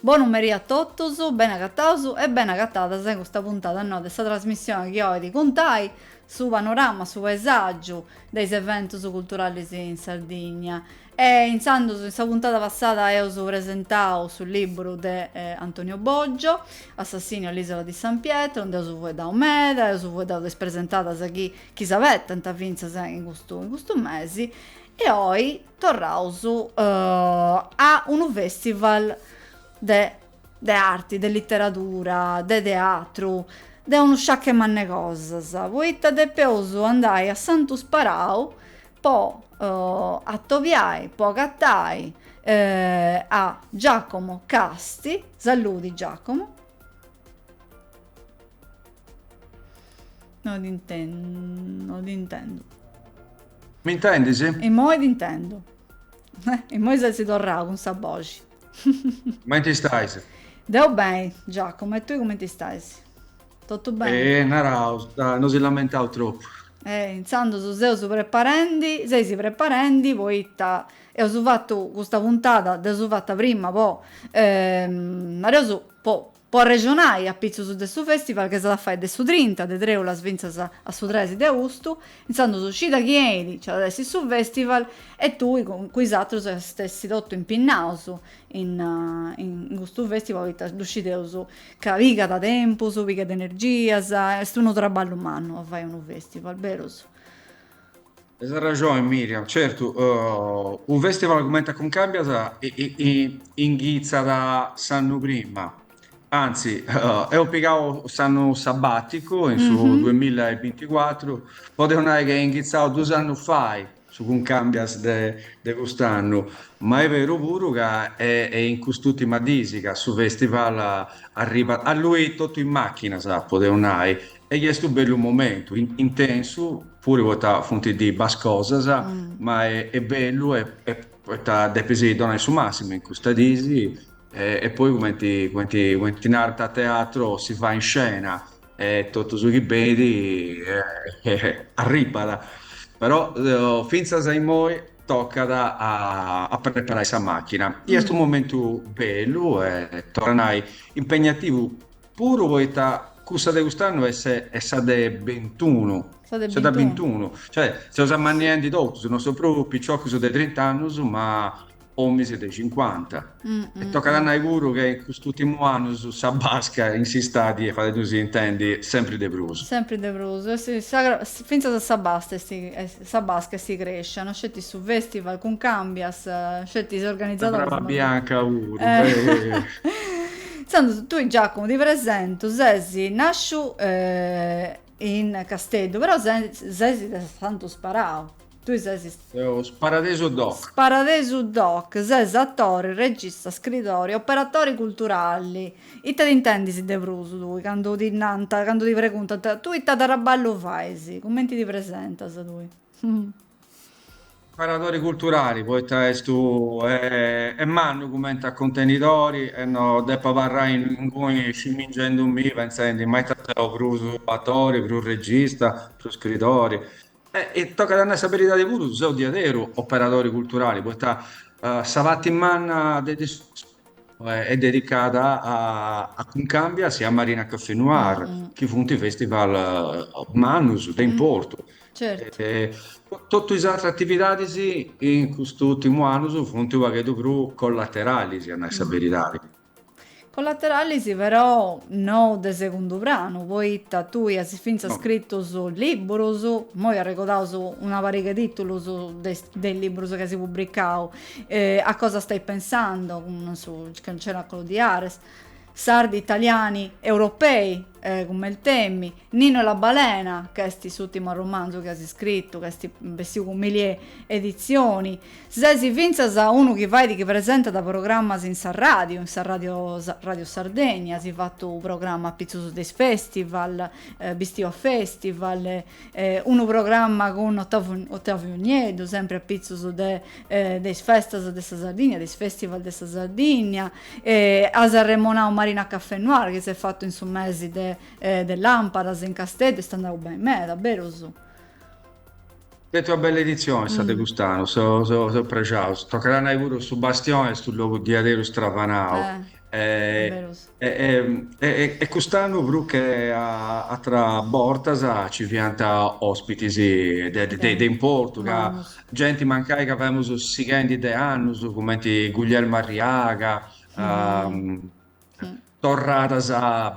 Bonu meri a totus, beni agataus e beni agatadas in custa puntada noa de sa trasmissioni chi oit cuntai su panorama, su paesàgiu de is eventus culturalis in Sardigna. E intzandus, in sa puntada passada eus presentau su libburu de Antonio Boggio, Assassinio all'isola di San Pietro, nd'eus fueddau meda, eus fueddau de is presentadas chi chi s'abetant fintzas in custu in custu mesi e oi Torraus a unu festival de de arti, de literadura, de teatru, de unu sciacu mannu 'e cosas, poita depeus andai a Santu Sperau po atobiai, po agatai a Giacomo Casti, saludi Giacomo, no ddi intendu, no ddi intendu. M'intendis? Immoi t'intendu. Immoi ses torrau cun sa boxi. Cumenti stais? Deu beni, Giacomo, e tui cumenti stais? Totu beni? E, naraus, no si lamentaus tropu. E, intzandus seus preparendi, seis preparendi, poita eus fatu custa puntada, dd'eus fata prima po, naraus, po Po arrexonai, apitzus de su festival chi s'at a fai de su trinta de trèulas fintzas a su tres de austu, intzandus cida chi benit, nci at a essi su festival e tui cun cun is atrus eis a essi totu impinnaus in in custu festival poita ddu scideus ca pigat tempus, pigat energias, est unu traballu mannu a fai unu festival, berus. Tenis arrexoni Miriam, certu unu festival cumenti a Cuncàmbias inghitzat s'annu prima, anzi eus pigau s'annu sabàticu in su duemilla e binticuatru, podeus nai ch'at inghitzau dus annus fait su Cuncàmbias de cust'annu, ma est beru puru ca est in cust'ùrtimas diis ca su festival arribat alluit totu in màchinas, podeus nai, E est unu bellu momentu, intensu puru poita funt dibressas cosas, ma est bellu poita depis donai su massimu in custas dis e poi cumenti cumenti cumenti narant a teatro si va in scena e totu su chi beni arribbat. Però fintzas a immoi toccat a preparai sa machina. Est unu momentu bellu e torru a nai impegnativu Puru poita cussa de cust'annu est est sa de bintunu. Sa de bintunu. Sa de bintunu. Cioè, seus ammanniendi totus, non seus prus piciocus de trint'annus, ma òminis de cincuanta. E tocat a nai puru ca in custus ùrtimus annus sa basca in s'istadi est fadendusì intendi sempri de prus. Sempri de prus. Fintzas a sa basca est. Sa basca est crèscendi, no sceti su festival Cuncambias, sceti is organizadoris. Sa brava bianca puru. Intzandus tui Giacomo ti presentu, sesi nasciu in Casteddu però sesi de Santu Sparau, tui sesi. Deu Sparadesu doc. Sparadesu doc, ses attori, regista, scridori, operatori culturali. Ita t'intendis de prus tui candu ti nant, candu ti preguntant, tui ita traballu fais? Cumenti ti presentas tui? Hm. Operadori culturali, poita est mannu cumenti a cuntenidori e no deppu abarrai inguni scimingendumì pentzendi ma ita seu prus atori, prus regista, prus scridori. E tocat a nai sa beridadi puru, seu diaderu operadori culturali, poita sa parti manna de de est dedicada a Cuncambias e a Marina Caffè Noir, chi funt festival mannus de importu. Totu is atras atividadis in custus urtimus annus funt u' pagheddu prus collateralis, a nai sa beridadi. Collateralis però no de segundu pranu, poita tui as fintzas scritu libburus, immoi arregodaus una pariga 'e titulus de is libburus chi as pubbricau, A cosa stai pensando, cun su Cenacolo di Ares, Sardi, Italiani, Europei, cun Meltemi. Nino e la Balena, ch'est s'ùrtimu arromanzu chi as iscritu, ch'est bessiu cun Milieu Editzioni. Ses fintzas unu chi fait chi presentat programmas in sa ràdiu, in sa Rai Ràdio Sardegna, as fatu unu programma a pitzus de is festival, Bistiu a festival, unu programma cun Ottavu Ottaviu Nieddu, sempri a pitzus de de is festas de sa Sardigna, de is festival de sa Sardigna, as arremonau Marina Café Noir chi s'est fatu in su mesi de De làmpadas in Casteddu est andau beni meda, berus? Stetia una bella editzioni sa de cust'annu, seus prexaus. Tocat a nai puru, su Bastioni est unu logu diaderus stravanau. E cust'annu prus che atras bortas ci fiant ospitis de importu, ca genti mancai ca femus sighendi de annus, cumenti Guillermo Arriaga, torradas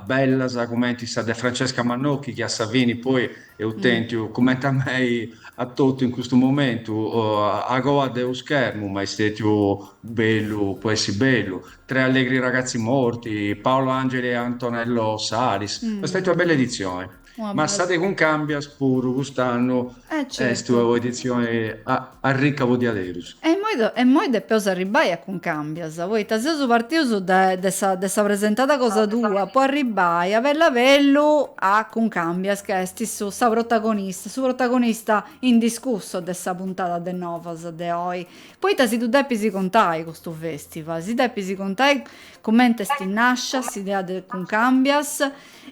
bellas cumenti sa de Francesca Mannocchi chi a sa fini poi eus tentiu, cumenti a mei a totu in custu momentu, a coa de unu schermu, ma est stetiu bellu po essi bellu, Tre allegri ragazzi morti, Paolo Angeli e Antonello Salis, ma est stetiu una bella editzioni. Ma sa de Cuncàmbias puru cust'annu est una edizioni arricca po diaderus. E immoi e immoi depeus arribbai a Cuncàmbias, poita seus partius de de sa de sa presentada cosa tua po arribbai a bellu a bellu a Cuncàmbias ca est su sa protagonista su protagonista indiscussu de sa puntada de Novas de oi. Poita si ddu depis contai custu festival, si depis contai cumenti est nàscia s'idea de Cuncàmbias,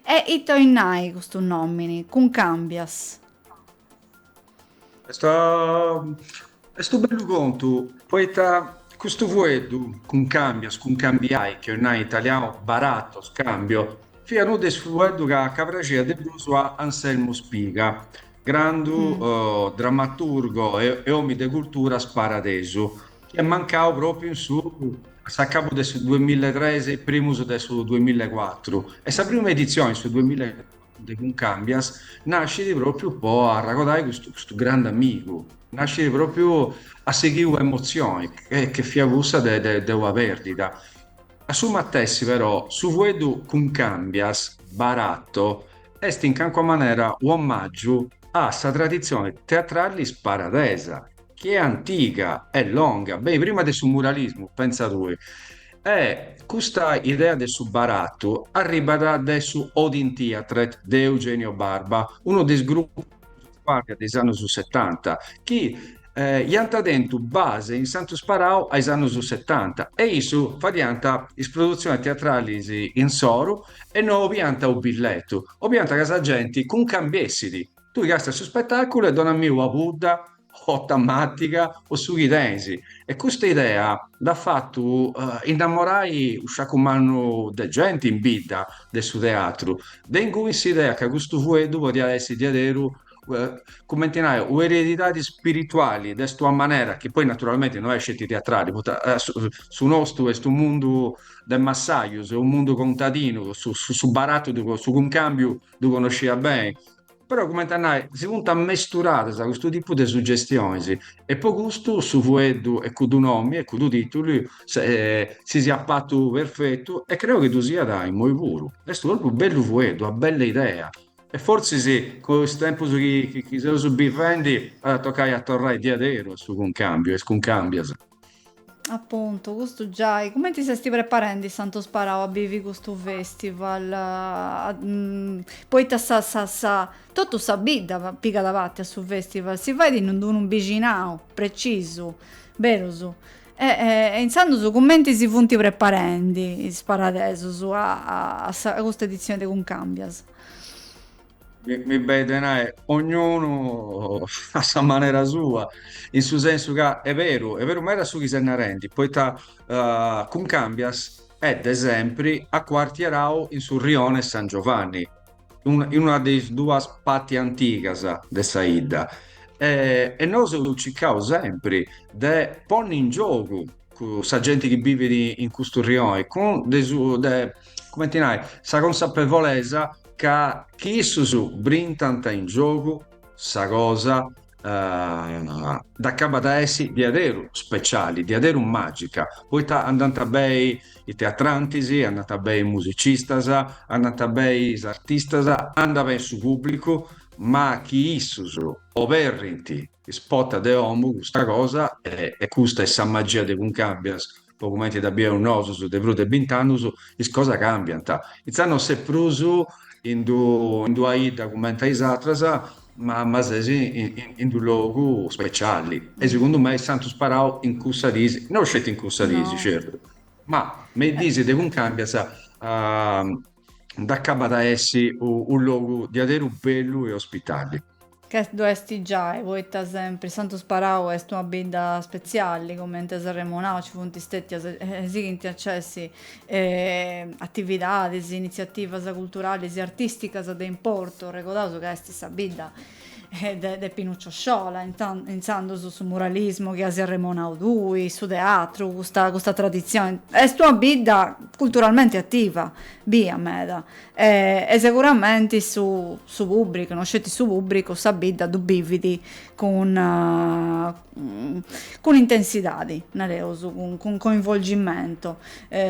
E ite 'oit nai custu nòmini, Cuncàmbias? Est est unu bellu contu, poita custu fueddu, cuncàmbias, cuncambiai, chi 'oit nai in italianu baratto, scambio, fiat unu de is fueddus ca ca praxiat de prus a Anselmu Spiga, grandu dramaturgo e omi de cultura sparadesu. chi est mancau pròpriu in su a s'acabu de su duamilla e tres e primus de su duamilla e cuatru e sa prima editzioni in su duamilla e cuatru de Cuncàmbias nascit pròpriu po arragodai custu custu grandu amigu, nascit pròpriu a sighiri una emotzioni chi fiat cussa de de de una pèrdida. A su matessi però su fueddu Cuncàmbias, baratu est in calincuna manera u' omàgiu a sa traditzioni teatrali sparadesa chi est antiga e longa, beni, prima de su muralismu, pentza tui. E custa idea de su baratu arribat de su Odin Teatret de Eugenio Barba, unu de is gruppus prus fàrrias de is annus setanta, chi iant tentu base in Santu Sparau a is annus setanta e issus fadiant is produtzionis teatralis insoru e no obiant u' billetu, obiant ca sa genti cuncambiessit. Tui casti a su spetaculu e donammi ua pudda o tamatiga o su chi tenisi e custa idea nd'at fattu innamorai u sciacu mannu de genti in bidda de su teatru, de ingui s'idea ca custu fueddu podiat essi diaderu cumenti nai u eredidadi spirituali de st'ua manera chi poi naturalmenti no est sceti teatrali poita su nostu est u mundu de massaius, u mundu contadinu, su barattu, su cuncambiu ddu connosciat beni, però cumenti a nai, si funt ammesturadas custu tipu de suggestionis e po custu su fueddu e cuddu nomi e cuddu titulu si fiat patu perfetu e creu chi ddu siat immoi puru. Est u' propriu bellu fueddu, una bella idea e fortzis po is tempus chi seus bivendi at a toccai a torrai diaderus a su cuncambiu, a is cuncambias. Appuntu, custu giai. Cumenti s'esti preparendi Santu Sparau a bivi custu festival? A, mm, poita sa, sa, sa, totu sa bidda pigada parti a su festival, si faidi in d'unu mbixinau precisu, berus? E, e intzandus cumenti si funti preparendi is sparadesus a, a, a sa, a custa edizioni de Cuncambias? mi, mi beit de nai, ognunu a sa manera sua, in su sensu ca è beru, è beru meda su chi ses narendi, poita eh, Cuncambias est de sempri acuartierau in su rione 'e San Giovanni, un- in una de is duas patti antigas de sa 'idda, e, e nosu eus circau sempri de ponni in giogu cun sa genti chi bivit in custu rioni, cun de su de cumenti nai sa consapevolesa ca chi issus brintant in giogu sa cosa dd'acabat a essi diaderu speciali, diaderu magica, poita andant bei is teatrantis, andant bei is musicistas, andant bei is artistas, andat beni su pubblicu, ma chi issus oberrint Is portas de omu, custa cosa, e custa est sa magia de Cuncambias, po cumenti dda bieus nosus de prus de bint'annus, is cosas càmbiant. Intzandus no ses prus in d'ua 'idda cumenti a is atras, ma ma ses in d'u logu speciali. E segundu mei Santu Sparau in cussas disi, no sceti in cussas disi, certu, ma me is disi de Cuncambias nd'acabat a essi u logu diaderu bellu e ospitali. Ca ddu est giai, poita sempri Santu Sparau est una bidda spetzialli, cumenti as arremonau ci funt stètias e sighint a c'essi atividadis, initziativas culturalis e artìsticas de importu, arregodaus ca est sa bidda de Pinuccio Sciola, intzandus su muralismu chi asi arremonau tui, su teatru, custa traditzioni. Est una bidda culturalmenti ativa, bia meda, E seguramenti su su pubbricu, no sceti su pubbricu, sa bidda ddu bividi cun cun intensidadi, nareus, cun cun coinvolgimento,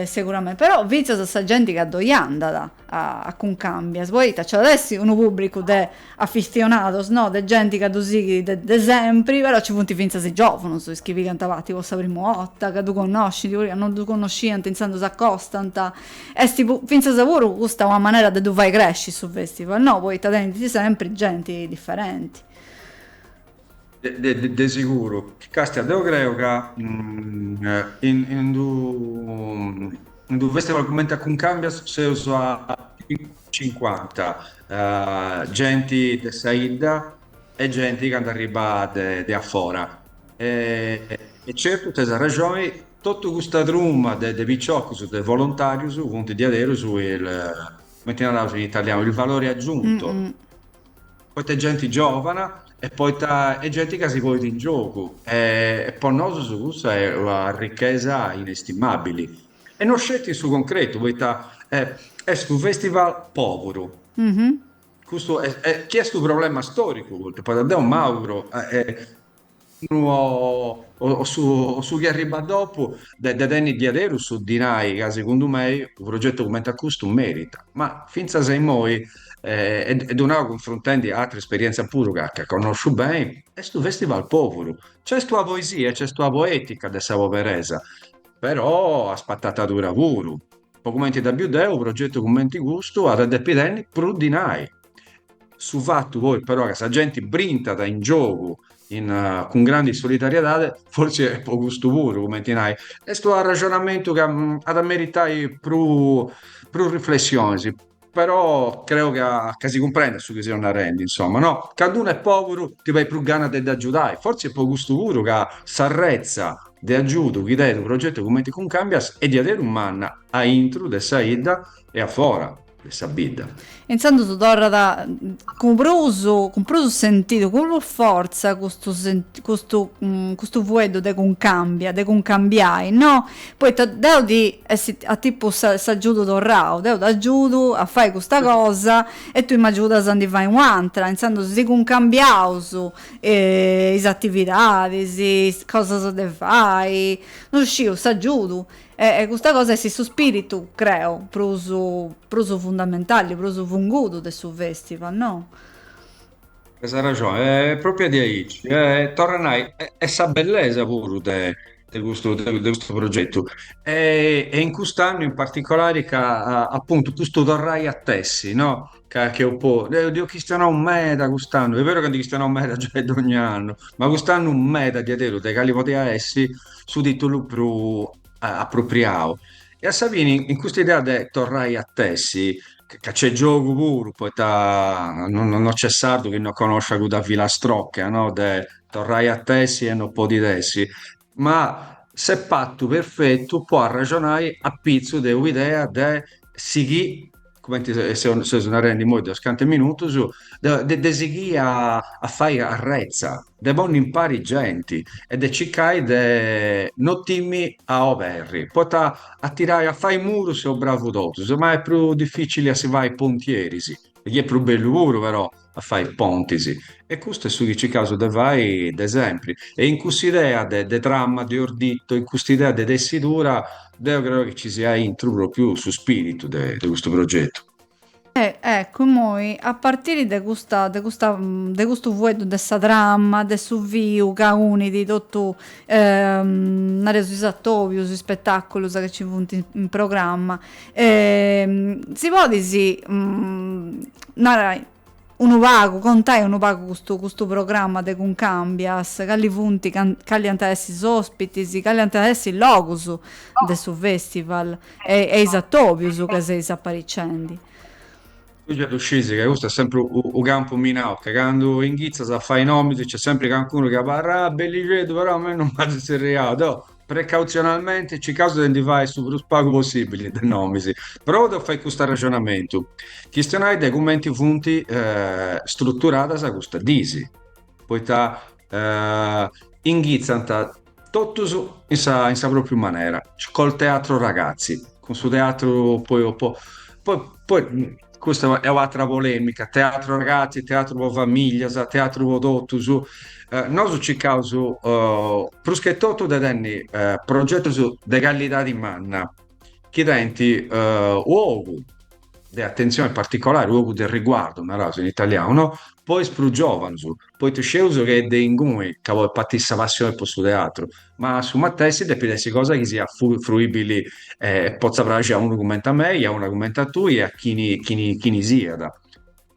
seguramenti, però finzas sa genti ca ddoi andat a Cuncambias, poita nc'at essi unu pubbricu de afitzionados, no, de genti ca ddu sighidi de de sempri, però nci funt finzas is giovunus, is chi pigant parti po sa primu 'orta, ca ddu connoscint, puru ca no ddu connosciant intzandus s'acostant Est fintzas puru custa una manera de ddu fai cresci su festival, no? Poita tenit sempri genti diferenti. De siguru. Castia, deu creu ca in d'unu festival cumenti a Cuncambias seus a cincuanta, genti de sa 'idda e genti ca nd'arribat de afora. E certu teis arrexoni. Totu custa truma de piciocus, de volontarius, funt diaderus il, cumenti naraus in italianu, il valore aggiunto, poita est genti giovana e poita est genti ca si ponit in giogu e po nosus cussa est una arrichesa inestimabili. E no sceti in su concretu, poita est unu festival poburu, custu est, chi est unu problema storicu, poita deu m'auguru unu o, o su, o su chi arribat dopu de, de tenni diaderus su dinai ca segundu mei u progetu cumenti a custu meritat. Ma fintzas a immoi, e, e ddu nau cunfruntendi a atra esperientzia puru ca, ca connosciu beni, est u festival poburu. C'est ua poesia e c'est ua poetica de sa poberesa, però a spattatadura puru. Po cumenti dda biu deu u progetu cumenti custu at a depi tenni prus dinai. Su fatu poi però ca sa genti brintat in giogu in, cun grandi solidariedade, fortzis est po custu puru, cumenti nai, est u arrexonamentu ca at a meritai prus prus riflessionis, però creu ca ca si cumprendat su chi seu narendi, insoma, no, candu unu est poburu ti benit prus gana de dd'agiudai, fortzis est po custu puru ca s'arretza de agiudu chi tenit unu progetu cumenti Cuncambias est diaderus manna aintru de sa 'idda e afora. de sa bidda. Intzandus torrat cun prus cun prus sentidu, cun prus fortza custu senti custu custu fueddu de cuncambia, de cuncambiai, no? Poita depit essi a tipu s'agiudu torrau, deu t'agiudu a fai custa cosa e tui m'agiudas a ndi fai u'antra, intzandus si cuncambiaus is atividadis, is cosas de fai, no sciu, s'agiudu E custa cosa est su spiritu, creo, prus prus fundamentali, prus fungudu de su festival, no? As arraxoni, est propria diaici. Torru a nai, est sa bellesa puru de de custu de custu progetu. E in cust'annu in particolari ca appuntu custu torrai a tessi, no? Ca c'eus po, eh, nd'eus chistionau meda cust'annu, est veru ca ndi chistionaus meda giai dogni annu, ma cust'annu meda diaderus de cali podiat essi su tìtulu prus apropriau. E a sa fini, in custa idea de torrai a tessi, ca nc'est giogu puru, poita no no nc'est sardu chi no connosciat cudda filastroca, no, de torrai a tessi e no podit essi Ma s'est partu perfetu po arraxonai apitzus de u' idea de sighì, cumenti seus narendi imoi de unus cantu minutus, de sighì a fai arretza, de ponni impari genti e de circai de no timmi a oberri, poita a tirai, a fai murus seus bravus totus, ma est prus dificili a si fai pontieris, chi est prus bellu puru però. a fai pontis e custu est su chi circaus de fai de sempri e in cussa idea de de trama, de ordito, in custa idea de tessidura deu creu chi ci siat intru propriu su spiritu de de custu progetu. E eccu immoi a partiri de custa de custa de custu fueddu de sa trama, de su fiu ca unit totu nareus is atobius, is spetaculus ca ci funt in programma Si podis narai unu pagu, contai unu pagu custu custu programma de Cuncambias, cali funt can cali ant a essi is ospitis, cali ant a essi is logus de su festival e e is atobius ca seis aparicendi. Già ddu scis ca custu est sempri u' campu minau, ca candu inghitzas a fai nomis nc'est sempri cancunu chi abarrat, ah bellixeddu però a mei non m'at zerriau, deu Precautzionalmente circaus de ndi fai su prus pagu possibili de nomis. Provu de fai cust'arrexonamentu, chistionai de cumenti funt struturadas custas diis, poita inghitzant totus in sa in sa propriu manera, col teatru ragazzi, cun su teatru po po poi Custa est un'atra polemica, teatro ragazzi, teatro po famiglias, teatro po totus. Eh, nosu circaus eh, prus che totu de tenni eh, progetus de callidadi manna, chi teinti eh, u' ogu de attenzioni particolari, u' ogu de riguardu, naraus in italianu, no? po is prus giovanus. Poita sceus ch'est de inguni ca podis partiri sa passioni po su teatru, ma a su matessi depit essi cosa chi siat fruibili e potza praxi a unu cumenti a mei, a una cumenti a tui e a chini chini chini siat.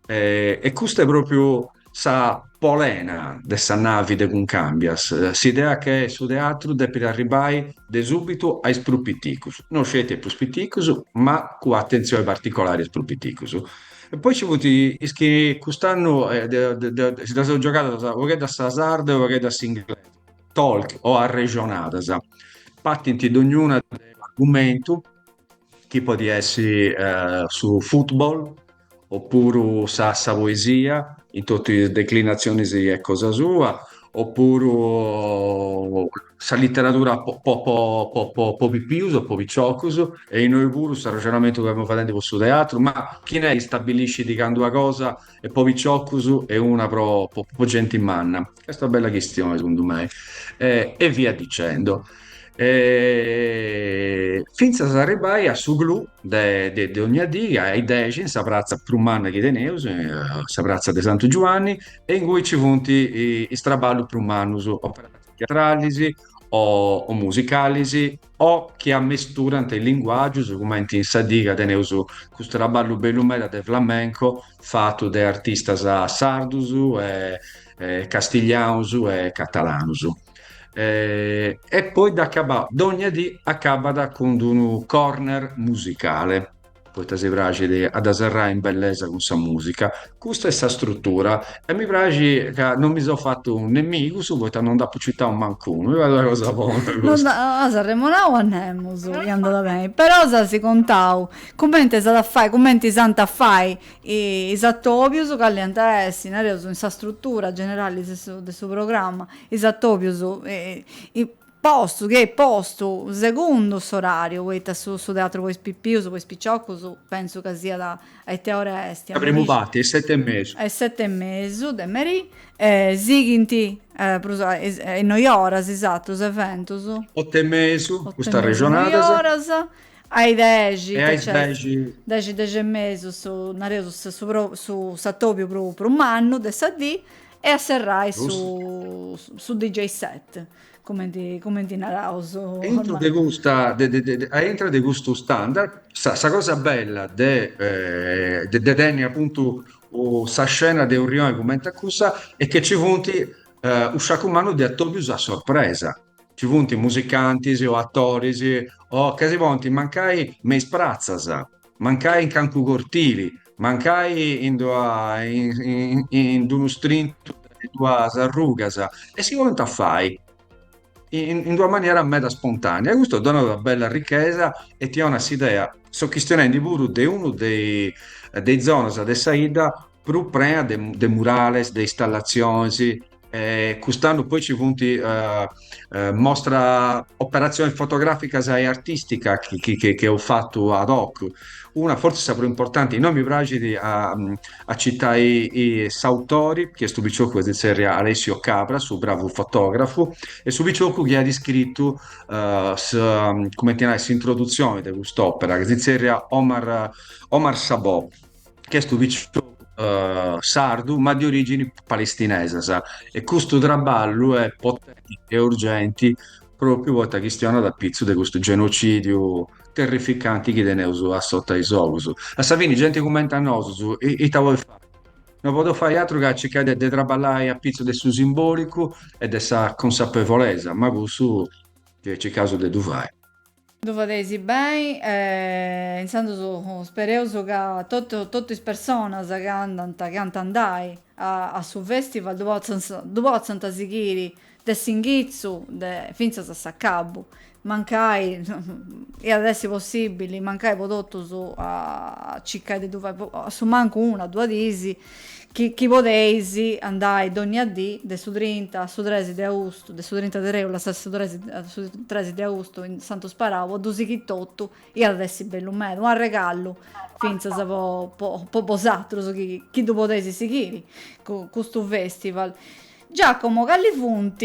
E custa est propriu sa polena de sa navi de Cuncambias, s'idea che su teatru depit arribbai de subitu a is prus piticus, no sceti a is prus piticus, ma cun atentzioni particolari a is prus piticus. E poi ci funt is chi cust'annu si ddas seus giogadas u' pagheddu a sa sarda e u' pagheddu a s'inglesa, talk o arrexonadas. Partint dognuna de un'argumentu, chi podit essi su futbol opuru sa poesia in totus is declinatzionis cosa sua. Opuru sa literadura po pipius o po piciocus, e innoi puru s'arrexonamentu chi fiaus fadendi po su teatru, ma chin'est chi stabiliscit candu una cosa est po piciocus e una po genti manna? Est una bella chistioni segundu mei. E via dicendo. E fintzas a arribbai a su clou de de de dogna dì a is dexi in sa pratza prus manna chi teneus, sa pratza de Santu Giuanni e ingui ci funt is traballus prus mannus, operadus teatralis o musicalis o chi amesturant is linguàgius, cumenti in sa dì ca teneus custu traballu bellu meda de flamenco fatu de artistas sardus e castiglianus e catalanus. eh, e poi dd'acabau dogna dì acabat cun d'unu corner musicale poita si praxit a dda serrai in bellesa cun sa musica custa est sa strutura e mi praxit ca non mi seu fatu nemigus poita non dd'apu citau mancunu mi parrit una cosa bona custa no apu arremonau a nemus e andat beni però s'as contau cumenti s'at a fai cumenti s'ant a fai Is atòbius calli ant a essi, nareus, in sa strutura generali de su programma, is atòbius postus, chi est postu segundu s'orariu, poita su teatru po is pipius, po is piciocus, pentzu ca siat a ite ora est. Sa primu parti, a is seti e mesu. A is seti e mesu de merì, e sighint prus a is noi oras is atrus eventus. Otu e mesu, custas regionadas. Otu e mesu is noi oras, A is dexi, e ite nc'est? Dexi, dexi e mesu, su, nareus, su pro, su, s'atobiu prus, prus mannu de sa dì, e a serrai su, su DJ set, cumenti, cumenti naraus. E intro de custa, de, de, de, a intra de custu standard, sa, sa cosa bella de, de tenni apuntu sa scena de u' rioni cumenti a cussa, est chi nci funt u' sciacu mannu de atobius a sorpresa. Ci funt musicantis o atoris o ca si ponint mancai me is pratzas, mancai in cancu cortili, mancai in d'ua in d'unu strintu de duas arrugas e si ponint a fai in d'una manera meda spontanea e custu donat una bella arrichesa e ti 'onat s'idea. Seu chistionendi puru de una de is zonas de sa 'idda prus prea de, de murales, de istallatziones, e cust'annu poi ci funt uh, uh, mostra operazioni fotograficas e artistica chi, chi, chi, chi eus fattu ad hoc. Una forse sa prus importanti, innoi mi praxit a, a citai s'autori, chi est u piciocu chi si zerriat Alessio Cabras, u bravu fotografu, e su piciocu chi at iscrittu uh, eh, sa, cumenti nai, s'introduzioni de cust'opera, chi si zerriat Omar, Omar Sabò. ch'est u piciocu sardu ma de origini palestinesas e custu traballu est potenti e urgenti propriu poita chistionat a pitzu de custu genocidiu terrificanti chi teneus asuta de is ogus. A sa fini genti cumenti a nosu ita podit fai? No podit fai atru ca circai de de traballai a pitzu de su simbolicu e de sa consapevolesa ma cussu circaus de ddu fai. Ddu fadeis beni e intzandus spereus ca totu is personas chi andant, chi ant a andai a su festival ddu potzant, ddu potzant sighiri de s'inghitzu de fintzas a s'acabu, mancai iat a essi possibili mancai po totus a circai de ddu fai, a su mancu una, duas dis, Chi podeis andai dònnia dì, de su trinta a su tres de austu, de su trinta de trèulas a su tres a su tres de austu in Santu Sparau, po ddu sighiri totu, iat a essi bellu meda, un arregallu fintzas po po po bosatrus chi chi ddu podeis sighiri custu festival. Giacomo, cali funt?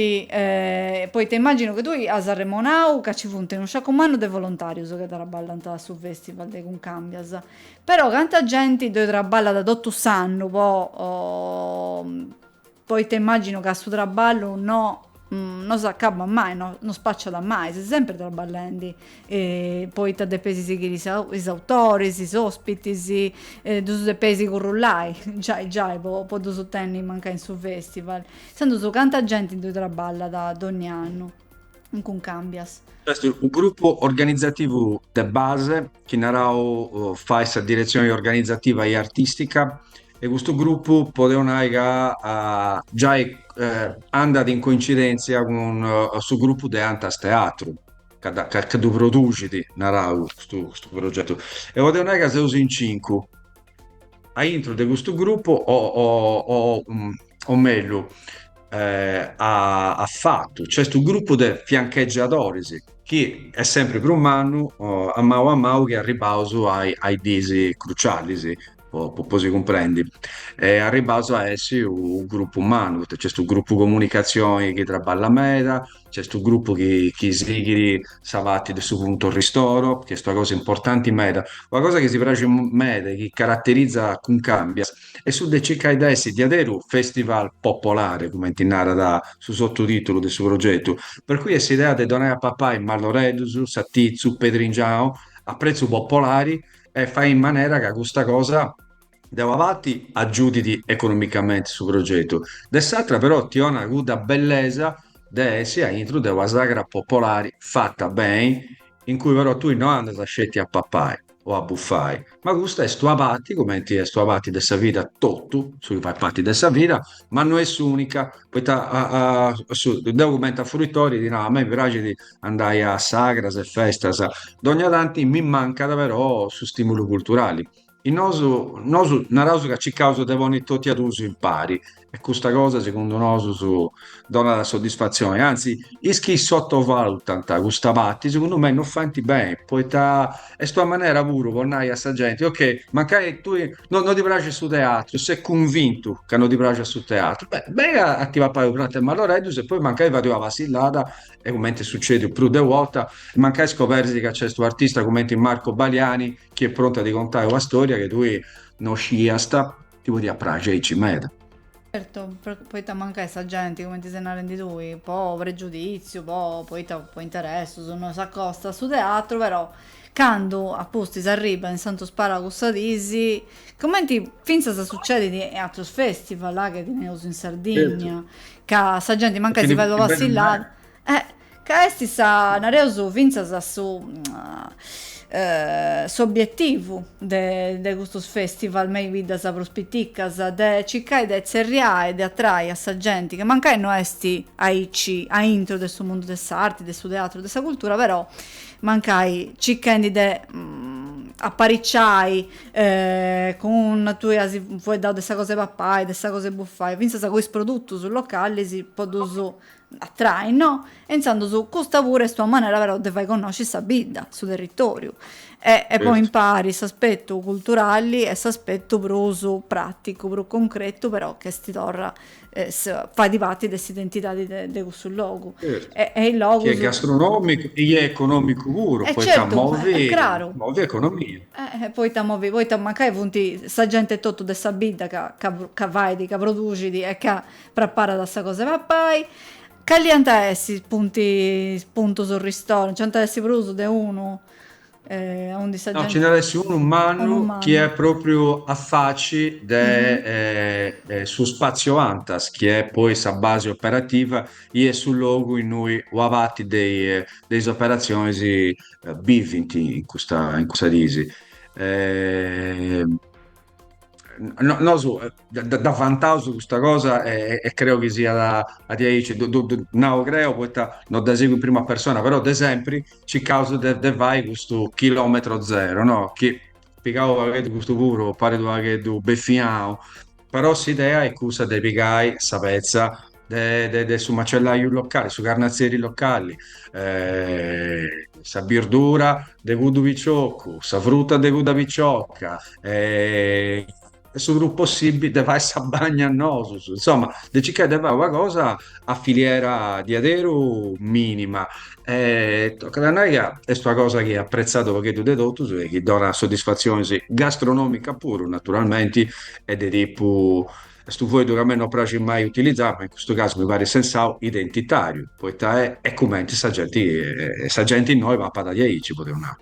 Poita immaginu chi tui as arremonau ca nci funt unu sciacu mannu de volontàrius chi traballant a su fèstival de Cuncàmbias. Però canta genti ddoi traballat totu s'annu po poita immaginu ca su traballu no no s'acabat mai, no no spaciat mai, seis sempri traballendi Poita depeis sighiri is autoris, is ospitis, ddus depeis currullai giai giai po ddus tenni mancai in su festival. Intzandus canta genti ddoi trabballat dogni annu in Cuncàmbias. Nc'est u grupu organizativu de base chi naraus fait sa diretzioni organizativa e artistica e custu grupu podeus nai ca giai andat in coincidenzia cun su grupu de Antas Teatru. ca da, ca ddu produxit, naraus, custu, custu progetu. E podeus nai ca seus in cincu aintru de custu grupu, o, o, o, o mellus, a, a fatu, nc'est unu grupu de fianchegiadoris chi est sempri prus mannu, a mau a mau chi arribbaus a is, a is diis crucialis, po, po si cumprendi, e arribbaus a essi u grupu mannu, poita nc'est unu grupu comunicazioni chi trabballat meda, Nc'est unu grupu chi sighit sa parti de su punto ristoro, chi est una cosa importanti meda. Una cosa chi si praxit meda e chi caraterizat Cuncàmbias est su de circai de essi diaderus festival popolari, cumenti narat su sotutitulu de su progetu. Per cui est s'idea de donai a papai malloreddus, satitzu, pedringianu a pretzu popolari e fai in manera ca custa cosa. De una parti agiudit economicamenti su progetu, de s'atra però ti 'onat cudda bellesa de essi a intru de una sagra popolari fata beni, in cui però tui no andas sceti a papai o a bufai, ma custa est una parti, cumenti est una parti de sa vida totu su chi fait parti de sa vida, ma no est s'unica, poita deu cumenti a fruitori ti nau, a mei mi praxit andai a sagras e festas, dogna tanti mi mancat però su stimulu culturali. E nosu, nosu narausu ca circausu de ponni tot'a dusu impari e custa cosa segundu nosu si donat soddisfatzioni, anzi is chi sottovalutant custa parti segundu mei no faint beni poita est una manera puru po nai a sa genti ok mancai tui no no ti praxit su teatru ses cunvintu ca no ti praxit su teatru beh beni a ti papai u pratu 'e malloreddus e poi mancai fais una passillada e cumenti est sucediu prus de una 'orta e mancai scoberis ca nc'est u' artista cumenti Marco Baliani chi est prontu a ti contai una storia chi tui no sciiast, ti podiat praxi aici meda. Certu, poita mancai sa genti, cumenti ses narendi tui, po pregiuditziu, po poita po interessus, no s'acosta a su teatru, però candu a pustis arribbat in Santu Sparau custas dis, cumenti fintzas sucedit in atrus festival chi teneus in Sardigna, ca sa genti mancai si fait una passillada Eh, ca est sa, nareus fintzas su s'obietivu de de custus festivals me i biddas prus piticas, de circai de tzerriai e de atrai a sa genti ca mancai no est aici aintru de su mundu de s'arti, de su teatru, de sa cultura, però mancai circhendi de apariciai cun, tui as fueddau de sa cosa 'e papai, de sa cosa 'e buffai, fintzas cun is produtus localis po ddus atrai, no? E intzandus custa puru est una manera però de fai connosci sa bidda, su territoriu e e poi impari s'aspetu culturali e s'aspetu prus praticu, prus concretu però ca est torra fait parti de s'identidadi de cussu logu e e is logus. Chi est gastronòmicu e chi est economicu puru e poita movi e craru movi economia. E poita movi poita mancai funt sa genti etotu de sa bidda ca ca ca fait, ca produxit e ca Preparat sa cosa 'e papai. Cali ant a essi is puntis puntus ristoru? Nci ant a essi prus de unu? aundi sa genti. No, nci nd'at a essi unu mannu chi est propriu a faci de su spatzio Antas, chi est poi sa basi operativa, i est su logu innui una parti de is operatzionis bivint in custas dis. No, nosu eh, da- da- da vantaus custa cosa e, e creo chi siat a, a diaici, du- du- du- nau creo poita no dda sigu in prima persona, però de sempri circaus de, de fai custu chilometro zero, no? Chi pigau unu pagheddu custu puru, parit unu pagheddu beffianu, però s'idea est cussa de pigai sa petza de, de, su macellaiu locali, su carnazzeri locali, eh, sa birdura de cuddu piccioccu, sa frutta de cudda picciocca, eh, e su prus possibili de fai sa bagna nosus, insomma, de circai de fai una cosa a filiera diaderu minima. E tocat a nai ca est una cosa chi est apprezzada unu pagheddu de totus e chi donat soddisfatzionis gastronomica puru, naturalmenti, e de tipu Custu foeddu ca a mei no praxit mai utilizai, ma in custu casu mi parit sensau, identitariu, poita est cumenti sa genti, sa genti innoi papat diaici, podeus nai.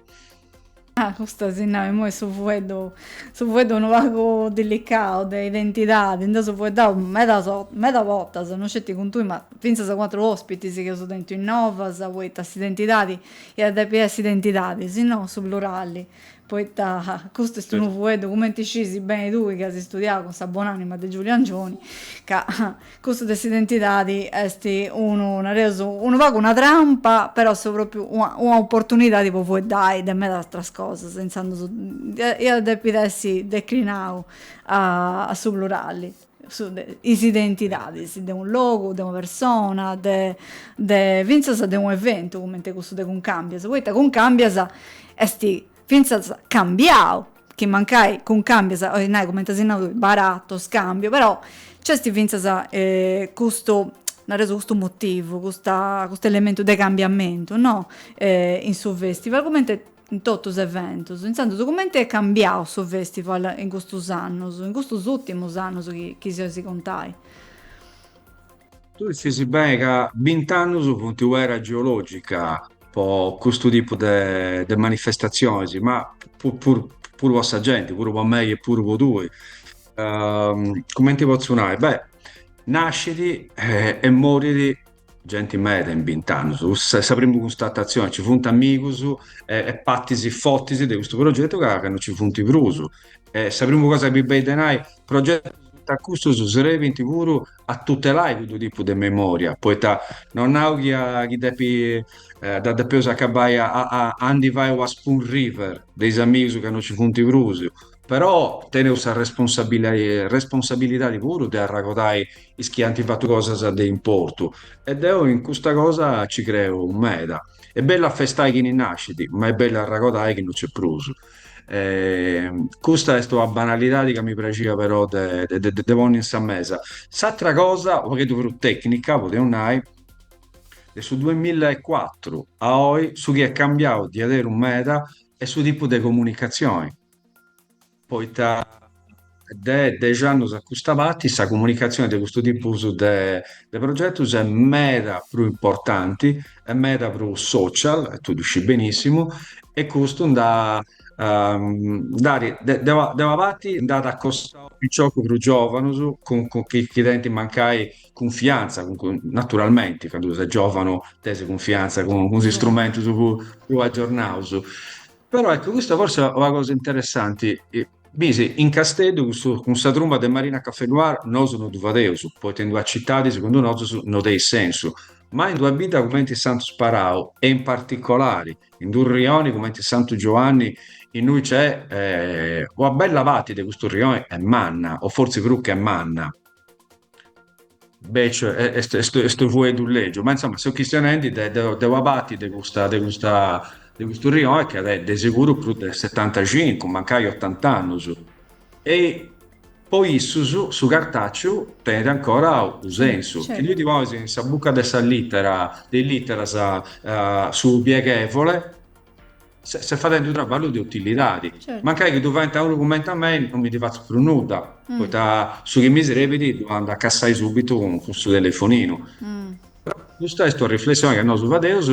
Ah, custu a si nai, imoi su fueddu, su fueddu unu pagu dilicau de identidadi, nd'eus fueddau meda meda bortas, no sceti cun tui, ma finzas cun atrus ospitis chi eus tentu innoi, poita s'identidadi iat depi essi is identidadis, in su plurali. Poita custu est unu fueddu, cumenti scisi beni tui chi as studiau cun sa bon'anima de Giuliu Angioni, ca custu de s'identidadi est unu, nareus, unu pagu una trampa, però est propriu una una opportunidadi po fueddai de meda atras cosas, intzandus iat depit essi declinau a su plurali. is identidadis de unu logu, de una persona, de fintzas de unu eventu cumenti cussu de Cuncàmbias, poita Cuncàmbias est fintzas cambiau, chi mancai Cuncàmbias, 'olit nai cumenti si narat oi, baratto, scambio, però nc'est fintzas custu, nareus, custu motivu, custa custu elementu de cambiamentu, no, in su festival, cumenti in totus is eventus. Intzandus cumenti est cambiau su festival in custus annus, in custus ùrtimus annus chi chi si 'olis contai? Tui scisi beni ca bint'annus funt u' era geològica po custu tipu de de manifestatzionis, ma puru puru po sa genti, puru po mei e puru po tui. Cumenti potzu nai? Beh, nascit e morit Genti meda in bint'annus, cussa est sa primu cunstatatzioni, ci funt amigus e partis fortis de custu progetu ca no ci funt prus. E sa primu cosa chi benit de nai, progetus che custus srebint puru a tutelai cuddu tipu de memoria, poita no nau chi dda depeus acabai a ndi fai una spoon river de is amigus ca no ci funt prus, Però teneus sa responsabilidadi puru de arragodai is chi ant fatu cosas de importu e deu in custa cosa nci creu meda. Est bellu a festai chini nascit, ma est bellu arragodai chi no nc'est prus. Custa est una banalidadi ca mi praxia però de ponni in sa mesa. S'atra cosa, u' pagheddu prus tecnica, podeus nai, de su duemilla e cuatru a oi su chi est cambiau diaderus meda est su tipu de comunicatzioni. Poita de dexi annus a custa parti sa comunicatzioni de custu tipus de progetus est meda prus importanti e meda prus social, e tui ddu scii benissimu, e custu nd'at, de una parti nd'at acostau piciocus prus giovanus chi tenint mancai cunfiantza, naturalmenti, candu ses giovanu tenis cunfiantza cun is strumentus prus aggiornaus. Però eccu, custa forsi est una cosa interessanti, bisi, in Casteddu custu, cun sa trumba de Marina Café Noir nosu no ddu fadeus, poita in d'una citadi, segundu nosus, no tenit sensu, ma in d'una bidda cumenti Santu Sparau e in particolari in d'unu rioni cumenti Santu Giuanni innui nc'est una bella parti de custu rioni est manna, o forsi prus che manna. Beciu est, est, est unu fueddu legiu, ma insoma seu chistionendi de, de, de una parti de custa, de custa, de custu rione chi at de seguru prus de setantacincu, mancai otant'annus. E po issus su cartàciu tenit ancora unu sensu. Chi tui ddi ponis in sa buca de sa lìtera, de is lìteras, su pieghevole, Se, ses fadendi unu traballu de utilidadi. Certu. Mancai chi ddu faint a unu cumenti a mei, non mi ndi fatzu prus nudda, mm. poita su chi mi srebit ddu andu a cassai subitu cun, cun su telefoninu. Mm. Custa est una riflessioni chi nosu fadeus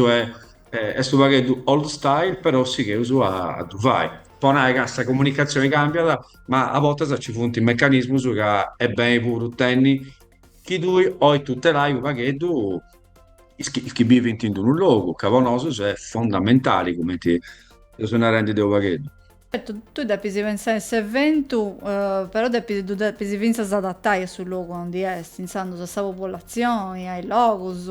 e est u' pagheddu old style però sigheus a ddu fai po nai ca sa comunicatzioni cambiat ma a bortas ci funt meccanismus ca est beni puru tenni chi tui ois tutelai u' pagheddu is chi, is chi bivint in unu logu, ca po nosus est fondamentali, cumenti eus beni narendi deu u' pagheddu. Certu, tui depis pensai in s'eventu, però depis, ddu depis fintzas adatai a su logu aundi est, intzandus a sa populatzioni, a is logus,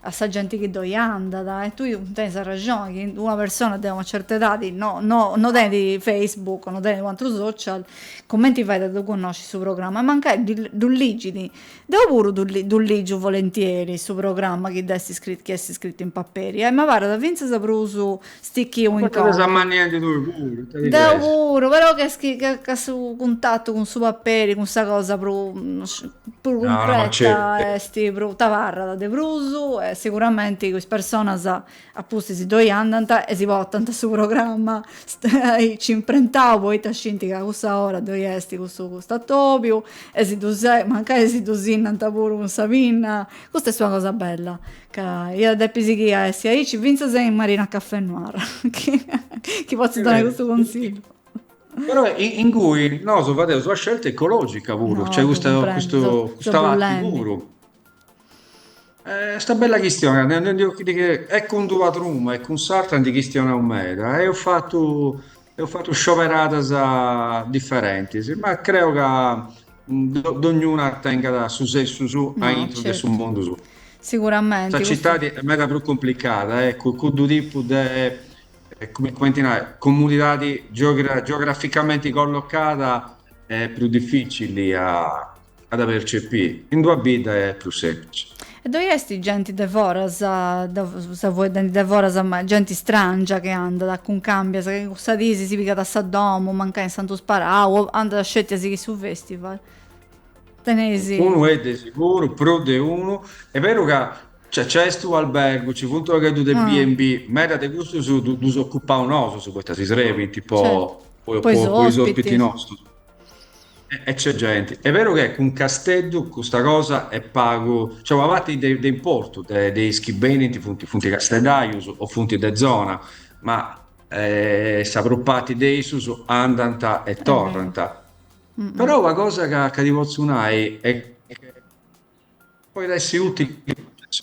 a sa genti chi ddoi andat. E tui tenis arrexoni chi una persona de una certa edadi no, no, no tenit Facebook, no tenit u' atru social, cumenti fait a ddu connosci su programma? E mancai ddu ligit Deu puru ddu ligiu volentieri su programma chi dd'est scritu, chi est scritu in paperi, e m'abarat fintzas prus stichiu in conca. Portat sa mannia in didui puru, ita ti Deu pesat? puru, però ch'est chi ca su cuntatu cun su paperi, cun sa cosa prus prus cuncreta est prus, t'abarrat de prus e siguramenti is personas A pustis ddoi andant e si portant su programma aici imprentau poita scint ca a cussa ora ddoi est cussu custu atobiu e si ddu mancai si ddu sinnant puru cun sa pinna. Custa est una cosa bella ca iat a depi sighì a essi aici fintzas in Marina Caffè Noir chi potzu donai custu consigliu. Però ingui nosu fadeus una scelta ecologica puru, nc'est custa custu custa pati puru Est una bella chistioni, e cun d'una truma e cun s'atra ndi chistionaus meda. Eus fatu, eus fatu scioberadas differentis, ma creu ca dognuna tengat su sensu suu aintru de su mundu suu. Siguramenti. Sa citadi est meda prus cumplicada, eccu, cuddu tipu de, cumenti nai, comunidadi geograficamenti collocada est prus dificili a a dda percepiri in d'una bidda est prus semplici. E ddoi est genti de foras, seu fueddendi de foras, ma genti strangia chi andat a cuncàmbia, ca cussa dì si pigat sa domu, mancai in Santu Sparau, o andat sceti a sighiri su festival. Teneis. Unu e de siguru, prus de unu. E' beru ca nc'est est u albergu, ci funt u pagheddu de B and B, meda de custus ddus ocupaus nosus, poita si srebint po is ospiti nostus. E nc'est genti. Est beru che cun Casteddu custa cosa est pagu, cioè una parti de, de importu de, de is chi benint funt, funt casteddaius o funt de zona, ma eh, sa prus parti de issus andant e torrant. Però una cosa ca, ca ti potzu nai è che Poit essi utili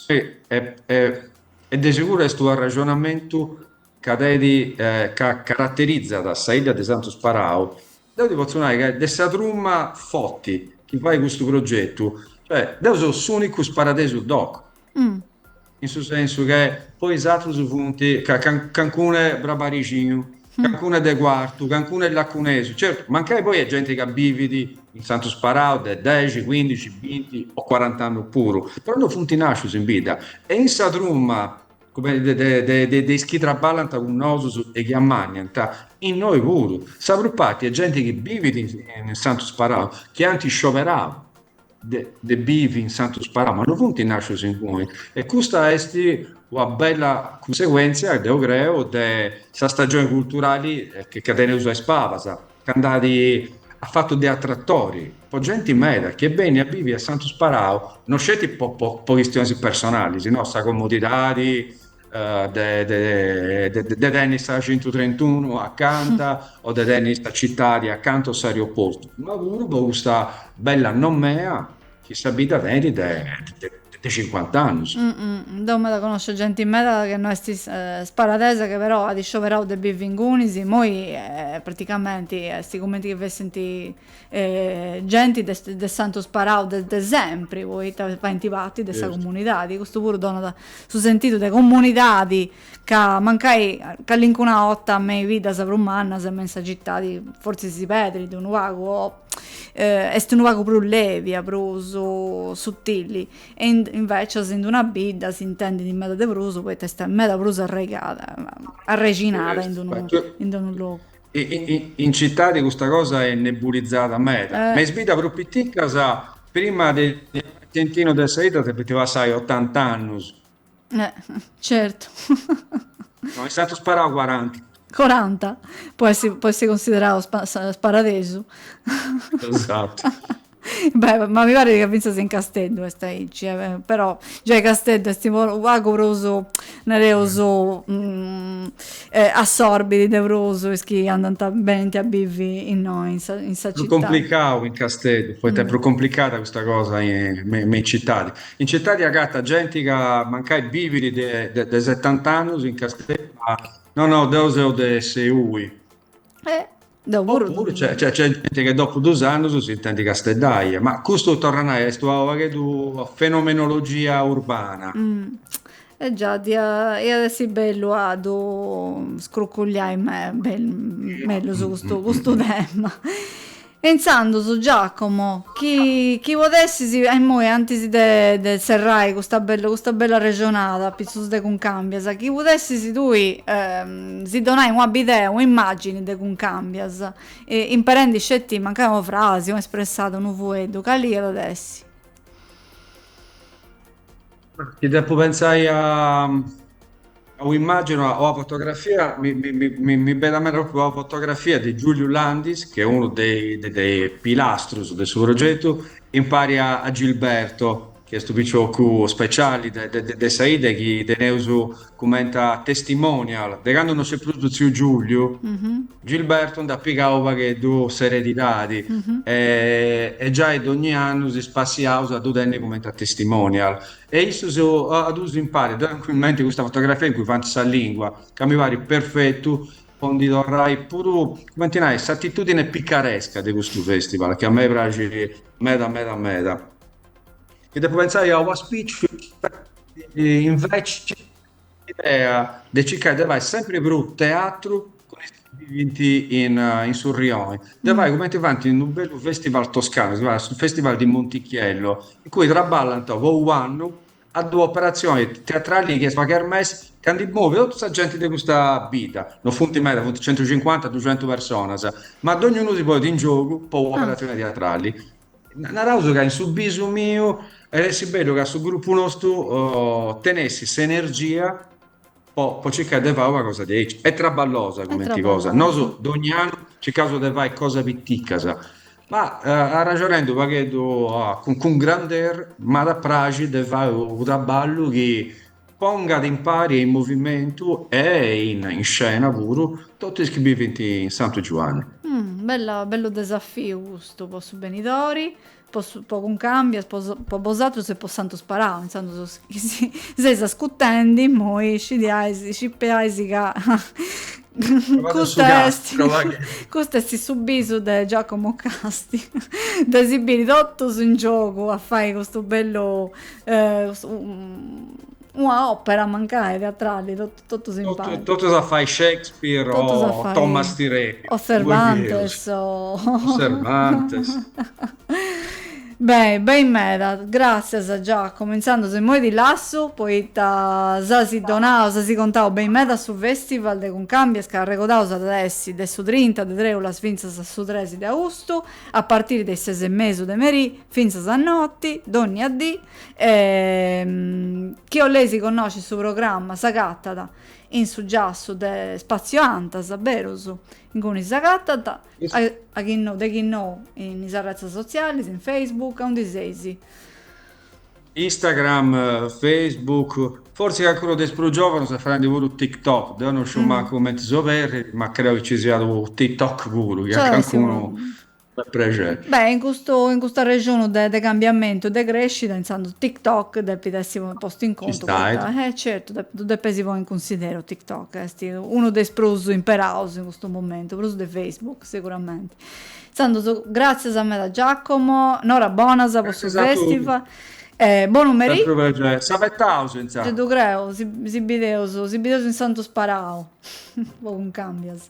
e de seguru est u arraxonamentu ca, e ti caraterizat sa idda de Santu Sparau, deu ti potzu nai ca est de sa truma foti chi fait custu progetu, cioè deu seu s'unicu sparadesu doc. in su sensu che poi is atrus funt cancunu brabarixinu, cancunu de Cuartu, cancunu est lacunesu, certu, mancai poi est genti ca bivit in Santu Sparau de dexi, cuindixi, binti o cuarant'annus puru, però no funt nascius in bidda e in sa truma de is chi traballant cun nosus e chi ammanniant, innoi puru, sa prus parti est genti chi bivit in Santu Sparau, chi ant scioberau. de bivi in Santu Sparau, ma no funt nascius ingui. E custa est una bella cunseguentzia, deu creu, de sa stagioni culturali ca teneus a is pabas, ca nd'at at fatu de atratori po genti meda chi est bennia a bivi a Santu Sparau, no sceti po po chistionis personalis, no, sa comodidadi eh, de, de, de, de tenni sa 131 acanta o de tenni sa citadi acanta o s'aeroportu, ma puru po custa bella nomea chi sa bidda tenit de, de, de 50 annus. Mm, mm, deu meda connosciu genti meda che no est is, eh, sparadesa che però at scioberau de bivi ingunis, immoi eh, praticamenti est cumenti chi fessint E genti de de Santu Sparau de de sempri, poita fainti parti de sa comunidadi, custu puru donat su sentidu de comunidadi ca mancai callincuna 'orta me is biddas prus mannas e me in sa citadi fortzis si perdit unu pagu o est unu pagu prus levia, prus suttilli e invecias in d'una bidda s'intendit meda de prus poita est meda prus arraigada arrexinada in d'unu logu. In citadi custa cosa est nebulizada meda, me is biddas prus piticas prima d'essi unu de sa 'idda depint passai otanta annus. Certu. No, in Santu Sparau cuaranta. Cuaranta, po essi po essi considerau sparadesu. Esattu. Beh, ma mi paret ca fintzas in Casteddu est aici, però giai Casteddu est u pagu prus, nareus, assorbit de prus is chi andant, benint a bivi innoi, in sa in sa città. Prus complicau in Casteddu, poita est prus complicada custa cosa me me in citadi. In citadi agatat genti ca mancai bivit de de de setant'annus in Casteddu, ma, no no, deu seu de Seui. Deu puru. Oppuru nc'est genti chi dopu dus annus s'intendit casteddaiu, ma custu, torru a nai, est unu pagheddu fenomenologia urbana. E giai, iat essi bellu a ddu scruculiai mellus custu tema. E intzandus, Giacomo, chi podessis, a immoi, antis de serrai custa bella arrexonada a pitzus de Cuncàmbias, chi podessis tui si donai una bidea, una immàgini de Cuncàmbias, imperendi sceti mancai una frasi, una espressada, unu fueddu, cali iat a essi? Chi depu pentzai a una immàgini o una fotografia, mi benit meda pròpriu una fotografia de Giuliu Landis, chi est unu de is pilastrus de su progetu, impari a Gilberto, chi est unu piciocu speciali de sa 'idda chi teneus cumenti a testimonial de candu no nc'est prus tziu Giuliu, Gilberto nd'at pigau u' pagheddu s'eredidadi e giai dogni annu si spassiaus a ddu tenni cumenti a testimonial e issus duus impari, deu tengu in menti custa fotografia in cui faint sa lingua ca mi parit perfetu po ndi torrai puru, cumenti nai, s'atitudini picaresca de custu festival chi a mei praxit meda meda meda. Chi depu pentzai a un'auspìciu inveci s'idea de circai de fai sempri prus teatru cun is chi bivint in in su rioni, de fai cumenti faint in unu bellu festival toscanu, si fait su festival di Monticchiello, in cui traballant po u' annu a una operatzioni teatrali chi est una kermesse chi ndi movit totu sa genti de custa bidda, no funt meda, funt centucincuanta, duxentu personas, ma dognunu si ponit in giogu po una operatzioni teatrali. Naraus ca in su bisu miu iat essi bellu ca su grupu nostu tenessit s'energia po, po circai de fai una cosa diaici. È traballosa cumenti cosa. Nosu dogni annu circaus de fai cosa piticas. Ma arraxonendi u' pagheddu cun cun grandeur, m'iat a praxi de fai u' traballu chi pongat impari e in movimentu e in in scena puru totu is chi bivint in Santu Giuanni. Bella, bellu desafiu custu po su benidori. po Cuncambias po bosatrus e po Santu Sparau intzandus is chi si seis ascutendi immoi scidiais scipeais ca custa est custa est su bisu de Giacomo Casti de si biri totus in giogu a fai custu bellu una opera mancai teatrali Totus in paris. Totus a fai Shakespeare o Otello. O Cervantes. O Cervantes. Beni, beni meda. Gràssias Giacomo. Intzandus immoi ti lassu poita si as donau, si as contau beni meda su festival de Cuncambias ca arregodaus at essi de su trinta de trèulas fintzas a su tres de austu a partiri de is ses e mesu de merì fintzas a noti, dònnia dì. E chi 'oleis connosci su programma s'agatat in su giassu de Spazio Antas, berus inguni s'agatant, a chi no de chi no in is arretzas sotzialis, in Facebook, aundi seis? Instagram, Facebook, fortzis calincunu de is prus giòvanus est faendi puru TikTok, deu no sciu mancu cumenti s'oberrit, ma creu chi nci siat unu TikTok puru, chi a calincunu Unu prexeri. Beh, in custu, in custu arrexonu de, de cambiamentu, de crescida, intzandus TikTok depit essi postu in contu. Ci stait. Poita, eh certu, de, ddu depeis ponni in cunsideru TikTok, esti unu de is prus imperaus in custu momentu, prus de Facebook siguramenti. Intzandus, gratzias meda Giacomo, nora bonas po su festival. E bonu meri. Sempri u' prexeri. Si abetaus intzandus. Ddu creu, si, si bideus, si bideus in Santu Sparau, po Cuncambias.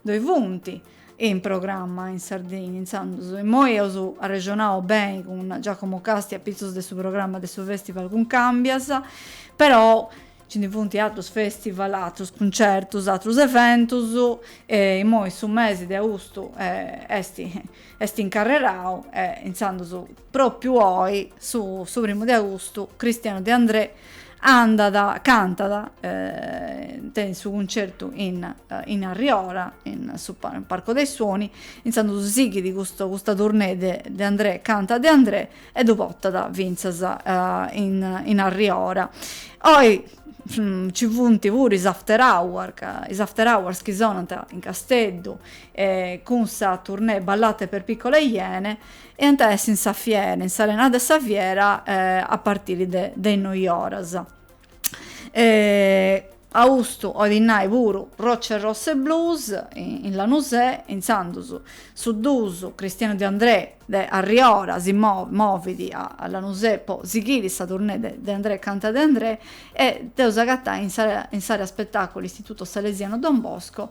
Ddoi funt in programma in Sardìnnia intzandus, immoi eus arrexonau beni cun Giacomo Casti apitzus de su programma de su festival Cuncambias, però nci ndi funt atrus festival, atrus cuncertus, atrus eventus e immoi su mesi de austu est Est incarrerau e intzandus propriu oi, su su primu de augustu, Cristiano De André andat, cantat, tenet su cuncertu in in Arriora, in su Parco dei Suoni, intzandus sighit custu custa tournée de De André canta De André e ddu portat fintzas in in Arriora. Oi nci funt puru is Afterhour ca is Afterhours chi sonant in Casteddu, e cun sa tournée Ballate per piccole iene e ant a essi in sa fiera, in s'arena de sa fiera a partiri de de is noi oras. Austu olit nai puru Rocce Rosse Blues in Lanusè, intzandus su dusu Cristiano De Andrè de Arriora si movit a Lanusè po sighiri sa tournée de De Andrè canta De Andrè e dd'eus a agatai in s'area in s'area spettaculu Istituto Salesiano Don Bosco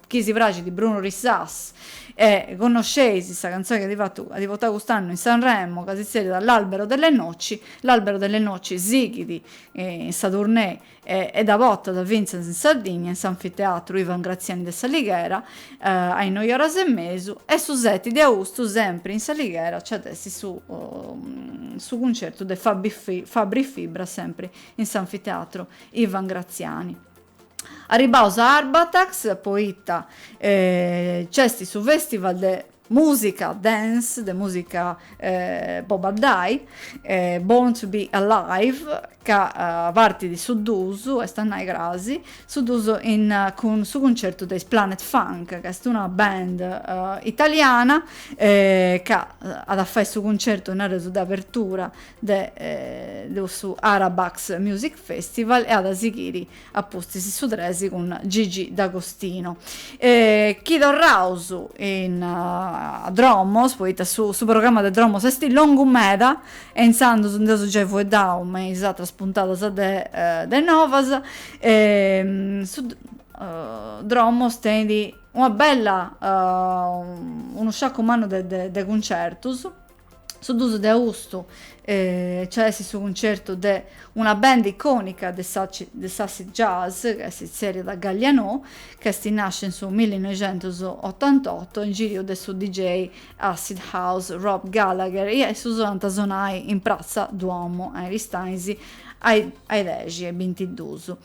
chi si praxit Brunori Sas e connosceis sa cantzoni chi at portau cust'annu in Sanremo ca si tzerriat L'albero delle noci, L'albero delle noci sighit in sa tournée e dda potat fintzas in Sardigna in s'Anfiteatru Ivan Graziani de s'Alighera a is noi oras e mesu e su seti de austu sempri in s'Alighera nc'at essi su su cuncertu de Fabri Fibra sempri in s'Anfiteatru Ivan Graziani. Arribbaus a Arbatax, poita nc'est su festival de musica dance, de musica po baddai, Born to be Alive, ca partit su dusu, est a nai crasi, su dusu in cun su cuncertu de is Planet Funk, ca est una band italiana, ca at a fai su cuncertu, nareus, de abertura de su Arabax Music Festival e at a sighiri a pustis su tres cun Gigi D'Agostino. Chi torraus in a Dromos, poita su su programma de Dromos est longu meda e intzandus nd'eus giai fueddau me is atras puntadas de de Novas, su Dromos tenit una bella unu sciaccu mannu de de de cuncertus, Su dusu de austu nci at a essi su cuncertu de una band icònica de de s'acid jazz, chi si tzèrriat Galliano, chi est nàscia in su millinoixentosotantotto in giriu de su DJ acid house Rob Gallagher e su so ant a sonai in Pratza Duomo a Aristanis a is dexi e bintidusu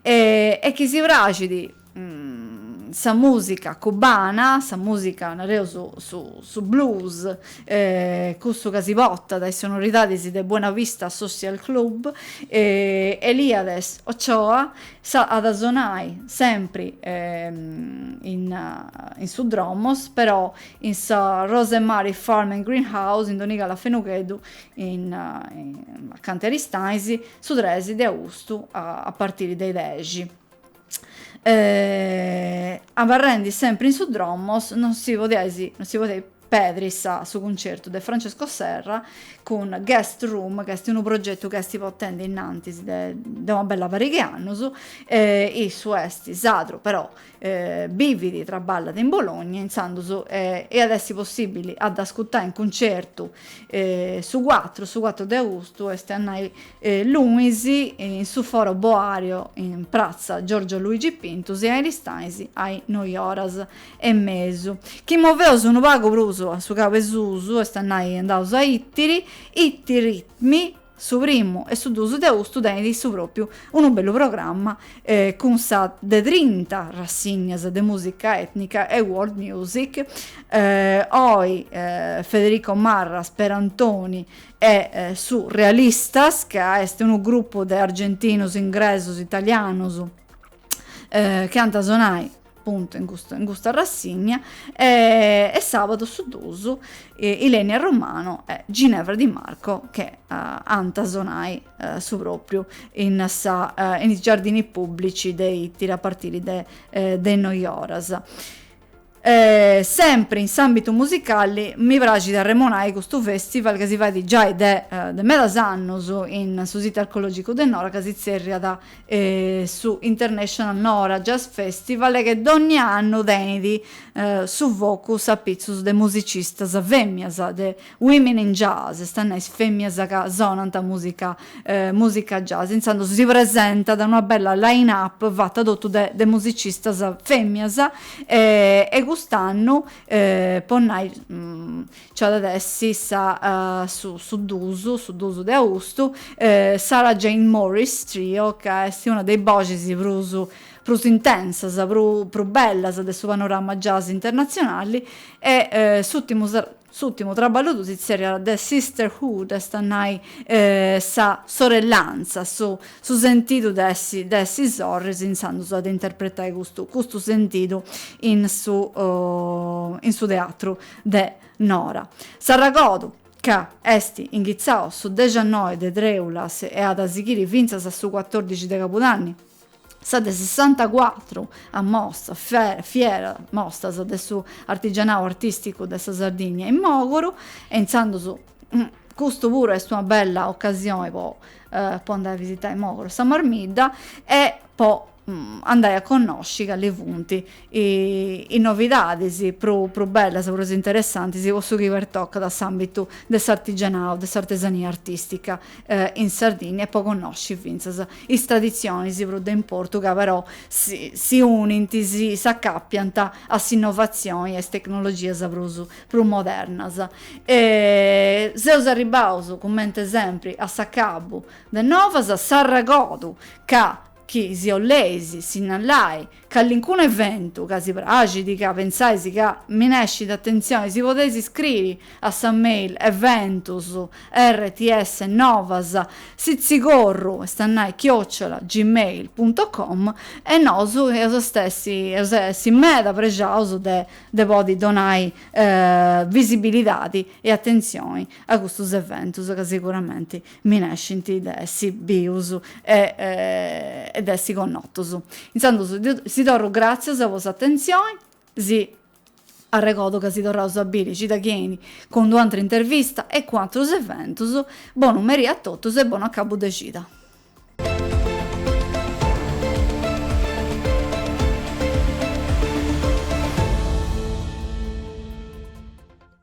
e chi si praxit sa musica cubana, sa musica nareus son blues, custu ca si portat a is sonoridadis de Buena Vista Social Club, Eliades Ochoa at a sonai sempri in su Dromos però in sa Rose Mari Farm and Green House in Donigala Fenugheddu in acanta Aristanis su tres de austu a partiri de is dexi. abarrendi sempri in su Dromos non si podiat pedri su cuncertu de Francesco Serra cun Guest Room, ca est unu progetu ca est portendi innantis de una bella pari de annus, issu est sadru però bivit e traballat in Bologna, intzandus iat essi possibili a dd'ascurtai in cuncertu su cuatru de austu, est a nai lunis, in su Foro Boario, in pratza Giorgio Luigi Pintus, in Aristanis a is noi oras e mesu. Chi moveus unu pagu prus a su cabu 'e susu, est a nai andaus a Ittiri, Ittiritmi, su primu e su duus de austu tenit su propriu unu bellu programma cun sa de trinta rassignas de musica etnica e world music, oi Federico Marras Perantoni, e Surealistas, ca est unu grupu de argentinos, ingresos, italianos chi ant a sonai appuntu in custa, in custa rassigna e, e sabadu a su duus Ilenia Romano e Ginevra Di Marco che ant a sonai su propriu in sa, in is giardini pubblici de Ittiri a partiri de is noi oras. E sempri in s'ambitu musicali mi praxit arremonai custu festival ca si fait giai de de medas annus in su situ archeologicu de Nora ca si tzerriat su International Nora Jazz Festival che dogni annu tenit su focus apitzus de musicistas femmias de Women in Jazz, est a nai is fèmmias ca sonant mùsica mùsica jazz, intzandus si presentat una bella line up fata totu de de musicistas fèmmias e cust'annu po nai nci at a essi sa su su duus su duus de austu Sarah Jane Morris Trio ca est una de is boxis prus prus intensas prus prus bellas de su panorama jazz internatzionali e s'ùrtimu S'ùrtimu traballu suu si tzerriat The Sisterhood, est a nai sa sorellanza, su su sentidu de essi de essi sorris intzandus at a interpretai custu custu sentidu in su in su teatru de Nora. S'arregordu, ca est inghitzau su dexannoi de trèulas e at a sighiri fintzas a su cuatòrdixi de cabudanni, Sa de sessantacuatru mostra, fiera mostra de su artigianau artisticu de sa Sardigna in Mògoro e intzandus custu puru est una bella ocasioni po po andai a visitai Mògoro e sa Marmidda e po andai a connosci cali funt is novidadis prus bellas, prus interessantis po su chi pertocat a s'àmbitu de s'artigianau, de s'artesania artìstica in Sardigna e po connosci fintzas is traditzionis prus de importu ca però si unint, si s'acàpiant a s'innovatzioni e a is tecnologias prus modernas. Seus arribbaus cumenti sempri a s'acabu de Novas, s'arregordu ca chi si 'olleis sinnallai callincunu eventu ca si praxit, ca pentzais ca minescit atentzioni, si podeis iscriri a sa mail eventus rts novas sitzicorru est a nai chiocciola gmail punto com e nosu eus a stessi eus a essi meda prexaus de de podi donai visibilidadi e atentzioni a custus eventus ca seguramenti minescint de essi bius e de essi connotus. Intzandus si torru gràtzias po s'atentzioni, si arregordu ca si torraus a biri cida chi 'enit cun d'u' antra intervista e cun atrus eventus, bonu merì a totus e bonu acabu de cida.